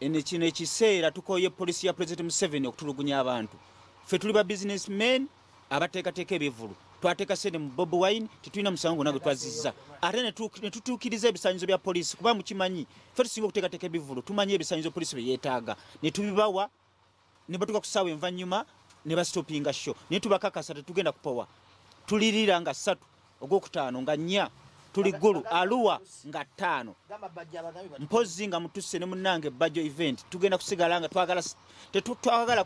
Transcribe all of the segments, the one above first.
ene kino ekiseera tukoye police ya president Museveni okutulugunya abantu fe tuli ba business men abateekateeka ebivulu twateeka sente mu bob wine tetulina musango gwona gwe twazizza ate ne tutuukiriza ebisanyizo bya poliisi kuba mukimanyi fe tusinga okuteekateeka ebivulu tumanyi ebisanyizo poliisi bye yeetaaga ne tubibawa ne batuuka ku ssaawa envannyuma ne basitopinga sho naye tubakakasa tetugenda kupowa tulirira nga ssatu ogwokutaano nga nnya tuli ggulu aluwa nga ttaano mpozzi nga mutusse ne munnange ebbajjo event tugenda kusigala nga twagala tetwagala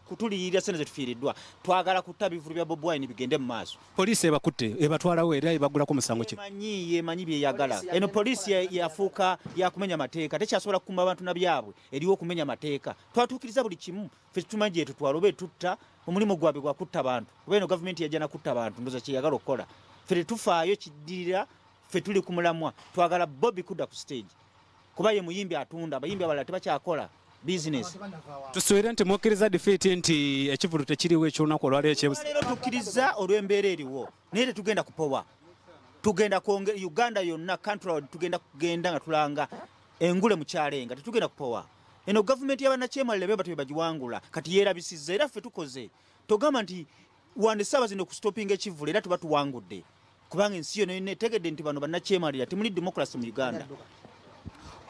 kutuliyirira sente zetufiiriddwa twagala kutta bivulu bya bob wine bigende mu maaso poliisi ebakutte ebatwalawo era ebagulako musango kyemanyi yemanyi byeyagala eno poliisi yafuuka yakumenya mateeka tekyasobola kukuma bantu na byabwe eriwo okumenya mateeka twatuukiriza buli kimu fe tumanyi gyetutwala oba etutta omulimu gwabwe gwakutta bantu oba eno gavumenti yajja nakutta bantu ndoza kyeyagala okukola fe tetufaayo kiddirira fe tuli ku mulamwa twagala bobi kudda ku stage kuba ye muyimbi atunda abayimbi abalala tebakyakola bizinesi tusubire nti mukkiriza difiiti nti ekivulu tekiriwo ekyolunaku olwaleero tukkiriza olw'embeera eriwo naye tetugenda kupowa tugenda kwonge uganda yonna kantrod tugenda kugenda nga tulanga engule mukyalenga tetugenda kupowa eno gavumenti yabanakyemalira bebati bebagiwangula kati yerabisiza era ffe tukoze togamba nti wande saaba zino kustopinga ekivula era tuba tuwangudde kubanga ensi yona yona etegedde nti bano banakyemalira temuli democracy mu uganda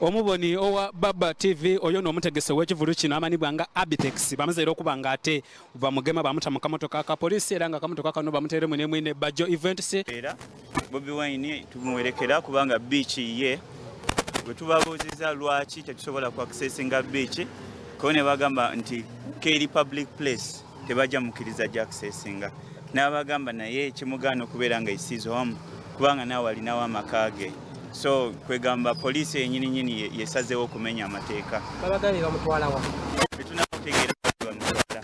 omuboni owa baba tv oyo no omutegese wekivulu kino amanibwa nga abitex bamaze era okuba nga ate bamugema bamuta mu kamotoka ka polisi era nga kamotoka kano bamuteremu ne mwine bajo events era bobi wine tumuwerekera kubanga beach ye bwe tubabuuziza lwaki tetusobola ku accessinga beach ko ne bagamba nti keri public place tebajja mukiriza jakusesinga n'abagamba naye ekimugaana okubeera nga isize omu kubanga naawe alinawo amaka ge so kwegamba poliisi yenyini nyini yesazeewo okumenya amateeka etunakutegeera bamutwala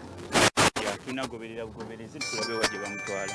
tunagoberera bugoberezi tulabewa gye bamutwala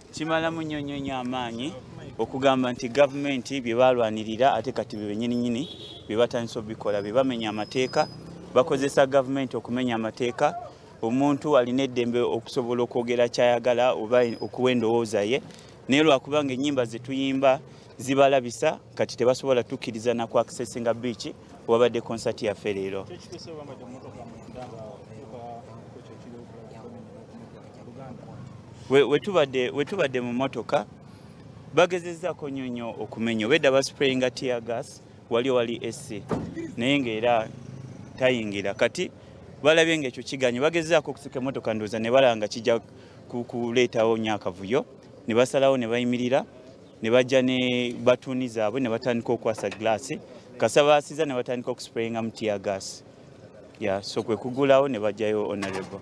kimala munyonyonyo amaanyi okugamba nti gavumenti bye balwanirira ate kati be benyininyini bye batandisa obikola be bamenya amateeka bakozesa gavumenti okumenya amateeka omuntu alina eddembe okusobola okwogera kyayagala oba okuwa endowooza ye naye lwakubanga ennyimba ze tuyimba zibalabisa kati tebasobola tukkiriza naku akisesinga biiki wabadde concert yaffe leero wetubadde we we mu motoka bagezezaako nnyo nnyo okumenya obedda basprayinga tear gas wali wali ec naye ngaera tayingira kati balabye nga ekyo kiganye bagezezaako okusika emotoka ndooza ne balaba nga kijja kuleetawo nnyo akavuyo ne basalawo ne bayimirira ne bajja ne batuuni zaabwe ne batandika okwasa gilaasi kasa baasiza ne batandika okusprayinga mu tiya gaasi ya so kwe kugulawo ne bajjayo onarebo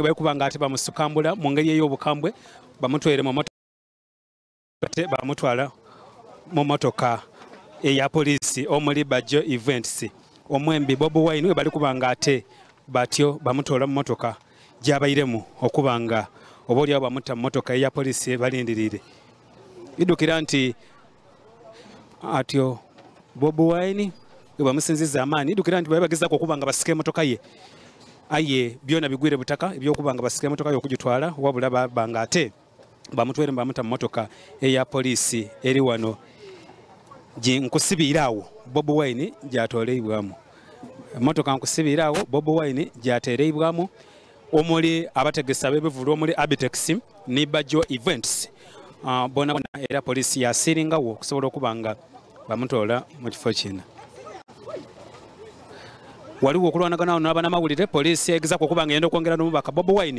bwekuba nga ate bamusukambula mu ngeri ey'obukambwe bamutwere mu ate bamutwala mu motoka eya poliisi omuli bajjo events omwembi bobi wine webali kuba nga ate batyo bamutoola mu motoka gyabairemu okuba nga oba olyawo bamutta mu motoka eya polisi balindirire idukira nti atyo bobi wine webamusinziza amaanyi idukira nti babe bagezako okuba nga basika emotoka ye aye byona bigwire butaka ebyokuba nga basika emotoka ye okugitwala wabula babanga ate bamutwere bamuta mmotoka eya poliisi eri wano nkusibiire awo bobi wine gyatoleibwamu emmotoka nkusibiire awo bobi wine gyatereibwamu omuli abategesi ab'ebivulu omuli abitex ne bajo events ah, bona bona era poliisi yasiringawo okusobola okuba nga bamutoola mu kifo kino waliwo okulwanaganawo nabanamawulire poliisi egezako okuba nga yenda okwongera nomubaka bobi wine